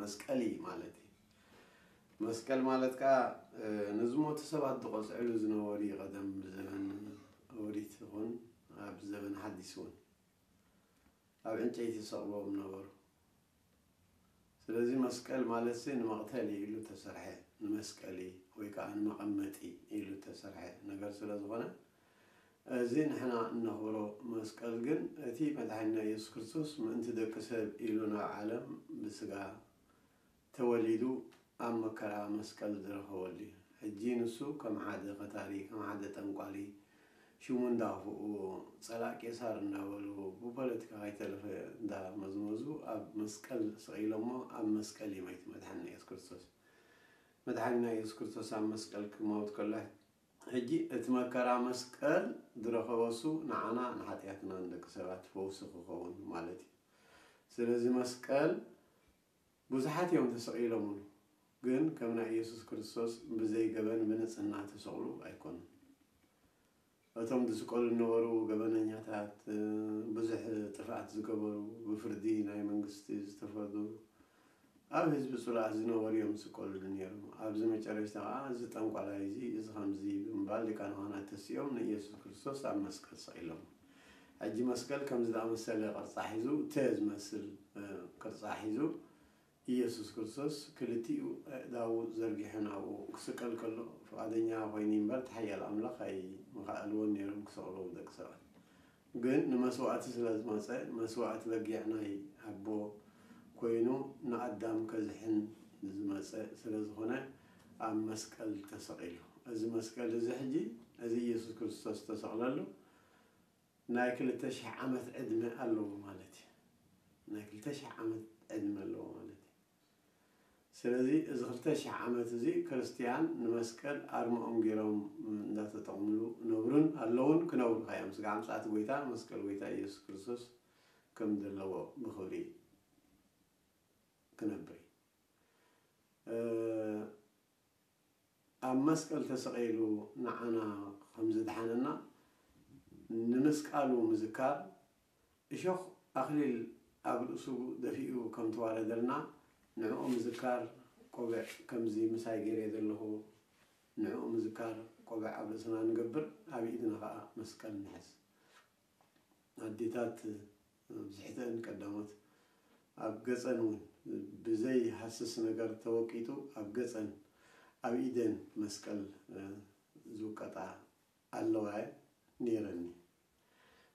መስቀል እዪ ማለት እዪ መስቀል ማለት ከኣ ንዝሞቱ ሰባት ዝቆጽዕሉ ዝነበሩ እዪ ቀደም ብዘበን ኦሪት ይኹን ኣብ ዘበን ሓዲስ እውን ኣብ ዕንጨይቲ ዝሰቅልዎም ነበሩ ስለዚ መስቀል ማለትሲ ንመቅተሊ ኢሉ ተሰርሐ ንመስቀሊ ወይ ከኣ ንመቀመጢ ኢሉ ተሰርሐ ነገር ስለዝኾነ እዚ ንሕና እነኽብሮ መስቀል ግን እቲ መድሓኒና ኢየሱስ ክርስቶስ ምእንቲ ደቂ ሰብ ኢሉ ናብ ዓለም ብስጋ ተወሊዱ ኣብ መከራ መስቀል ዝረኸበሉ እዩ። ሕጂ ንሱ ከም ሓደ ከታሪ ከም ሓደ ጠንቋሊ ሽሙ እንዳኣኽፍእዎ ጸላእ ቄሳር እንዳበሉ ብፖለቲካ ከይተረፈ እንዳመዝመዙ ኣብ መስቀል ሰቒሎሞ ኣብ መስቀል ይመይት መድሓኒና ኢየሱስ ክርስቶስ። መድሓኒና ኢየሱስ ክርስቶስ ኣብ መስቀል ክመውት ከሎ ሕጂ እቲ መከራ መስቀል ዝረከበሱ ንዓና ንሓጥያትና ንደቂ ሰባት ፈውሲ ክከውን ማለት እዩ ስለዚ መስቀል ብዙሓት እዮም ተሰቂሎምሉ ግን ከም ናይ ኢየሱስ ክርስቶስ ብዘይ ገበን ብንጽህና ተሰቅሉ ኣይኮኑን እቶም ዝስቀሉ ዝነበሩ ገበነኛታት ብዙሕ ጥፍኣት ዝገበሩ ብፍርዲ ናይ መንግስቲ ዝተፈርዱ ኣብ ህዝቢ ጽሉኣት ዝነበሩ እዮም ዝስቀልሉ ኔሮም ኣብዚ መጨረሽታ ከኣ እዚ ጠንቋላይ እዚ እዚ ከምዚ ብምባል ሊቃነ ካህናት ተሲኦም ንኢየሱስ ክርስቶስ ኣብ መስቀል ሰቂሎሞ ሕጂ መስቀል ከምዚ ዝኣመሰለ ቅርጻ ሒዙ ተ ዝመስል ቅርጻ ሒዙ ኢየሱስ ክርስቶስ ክልቲኡ ኣእዳዉ ዘርጊሑ ናብኡ ክስቀል ከሎ ፍቃደኛ ኮይኒ እምበር እቲ ሓያል ኣምላኽ ኣይምኸኣልዎን ኔሮም ክሰቅልዎ ደቂ ሰባት ግን ንመስዋእቲ ስለ ዝመጸ መስዋእቲ በጊዕ ናይ ኣቦ ኮይኑ ንኣዳም ከዝሕን ዝመጸ ስለ ዝኾነ ኣብ መስቀል ተሰቂሉ እዚ መስቀል እዚ ሕጂ እዚ ኢየሱስ ክርስቶስ ዝተሰቅለሉ ናይ ክልተ ሽሕ ዓመት ዕድመ ኣለዎ ማለት እዩ ናይ ክልተ ሽሕ ዓመት ዕድመ ኣለዎ ማለት እዩ ስለዚ እዚ ክልተ ሽሕ ዓመት እዚ ክርስትያን ንመስቀል ኣርምኦም ጌሮም እንዳተጠቕምሉ ነብሩን ኣለዉን ክነብሩ ከኣ እዮም ስጋዕ ምጽኣት ጎይታ መስቀል ጎይታ ኢየሱስ ክርስቶስ ከም ዘለዎ ብኽብሪ ክነብር እዩ ኣብ መስቀል ተሰቒሉ ንዓና ከም ዝድሓነና ንምስቃሉ ምዝካር እሾኽ ኣኽሊል ኣብ ርእሱ ደፊኡ ከም ተዋረደልና ንዕኡ ምዝካር ቆብዕ ከምዚ ምሳይ ጌሬ ዘለኹ ንዕኡ ምዝካር ቆብዕ ኣብ ርእስና ንገብር ኣብ ኢድና ከኣ መስቀል ንሕዝ ኣዴታት ኣብዝሕተእን ቀዳሞት ኣብ ገጸን ውን ብዘይ ሃስስ ነገር ተወቂጡ ኣብ ገጸን ኣብ ኢደን መስቀል ዝውቀጣ ኣለዋ ነይረኒ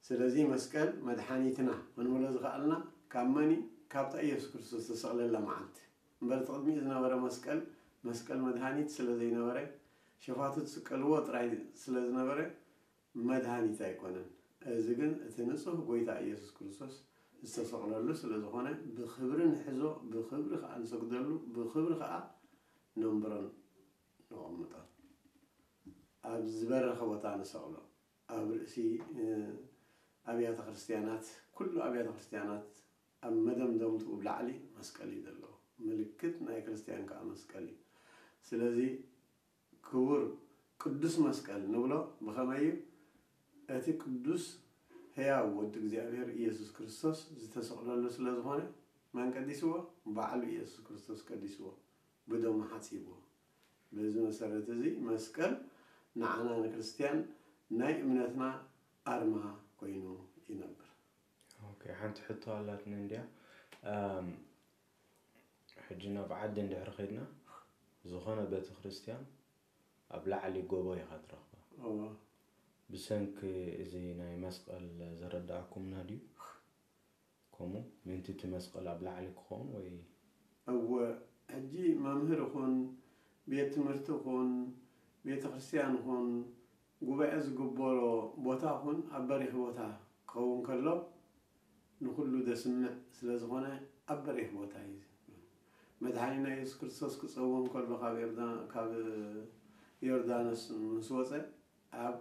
ስለዚ መስቀል መድሓኒትና ክንብሎ ዝኸኣልና ካብ መን እዩ ካብታ ኢየሱስ ክርስቶስ ዝተሰቕለላ መዓልቲ እምበር እቲ ቅድሚኡ ዝነበረ መስቀል መስቀል መድሃኒት ስለዘይነበረ ሸፋቱ ዝስቀልዎ ጥራይ ስለዝነበረ መድሃኒት ኣይኮነን እዚ ግን እቲ ንጹህ ጎይታ ኢየሱስ ክርስቶስ ዝተሰቕለሉ ስለዝኾነ ብኽብሪ ንሕዞ ብኽብሪ ከኣ ንሰግደሉ ብኽብሪ ከኣ ነንብሮን ነቐምጦ ኣብ ዝበረኸ ቦታ ንሰቕሎ ኣብ ርእሲ ኣብያተ ክርስትያናት ኩሉ ኣብያተ ክርስትያናት ኣብ መደምደምትኡ ብ ላዕሊ መስቀል እዩ ዘለዎ ምልክት ናይ ክርስትያን ከኣ መስቀል እዩ ስለዚ ክቡር ቅዱስ መስቀል ንብሎ ብኸመይ እዩ እቲ ቅዱስ ሕያው ወዲ እግዚኣብሔር ኢየሱስ ክርስቶስ ዝተሰቕለሉ ስለ ዝኾነ መን ቀዲስዎ ባዕሉ ኢየሱስ ክርስቶስ ቀዲስዎ ብደሙ ሓጺቡ። በዚ መሰረት እዚ መስቀል ንዓና ንክርስትያን ናይ እምነትና ኣርማ ኮይኑ ይነብር። ኦኬ ሓንቲ ሕቶ ኣላትኒ እንድያ እም ሕጂ ናብ ዓዲ እንድሕሪ ከድና ዝኮነ ቤተክርስትያን ኣብ ላዕሊ ጎቦ ኢካ ትረክባ እወ። ብሰንኪ እዚ ናይ መስቀል ዘረደኣኩምና ድዩ? ከምኡ ምእንቲ እቲ መስቐል ኣብ ላዕሊ ክኸውን ወይ። እወ፣ ሕጂ መምህር ኹን፣ ቤት ትምህርቲ ኹን፣ ቤተ ክርስትያን ኹን፣ ጉባኤ ዝግበሮ ቦታ ኹን ኣብ በሪኽ ቦታ ክኸውን ከሎ ንኹሉ ዘስምዕ ስለ ዝኾነ ኣብ በሪኽ ቦታ እዩ መድሓኒና የሱስ ክርስቶስ ክጸውም ከሎ ካብ ዮርዳኖስ ምስ ወጸ ኣብ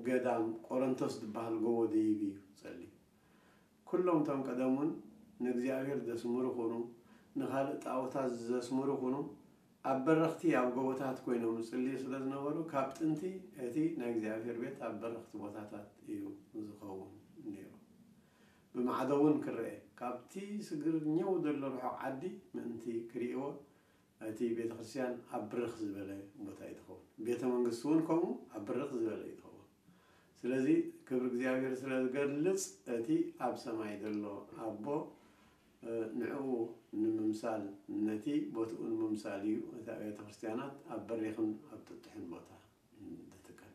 ገዳም ቆረንቶስ ድበሃል ጎቦ ደይብ እዩ ጸልዩ። ኩሎም እቶም ቀደሙን ንእግዚኣብሔር ዘስምሩ ኩኑ ንካልእ ጣኦታት ዘስምሩ ኩኑ ኣብ በረኽቲ ኣብ ጎቦታት ኮይኖም ዝጽልዩ ስለ ዝነበሩ ካብ ጥንቲ እቲ ናይ እግዚኣብሔር ቤት ኣብ በረኽቲ ቦታታት እዩ ዝኸውን ነይሩ ብማዕዶ እውን ክረኤ ካብቲ ስግር ኘው ዘሎ ርሑቕ ዓዲ ምእንቲ ክርእይዎ እቲ ቤተ ክርስቲያን ኣብ ብርኽ ዝበለ ቦታ እዩ ዝኸውን። ቤተ መንግስቱ እውን ከምኡ ኣብ ብርኽ ዝበለ እዩ ዝኸውን። ስለዚ ክብሪ እግዚኣብሔር ስለ ዝገልጽ እቲ ኣብ ሰማይ ዘሎ ኣቦ ንዕኡ ንምምሳል ነቲ ቦትኡ ንምምሳል እዩ እቲ ኣብያተ ክርስቲያናት ኣብ በሪኽን ኣብ ጥጡሕን ቦታ ዝትከል።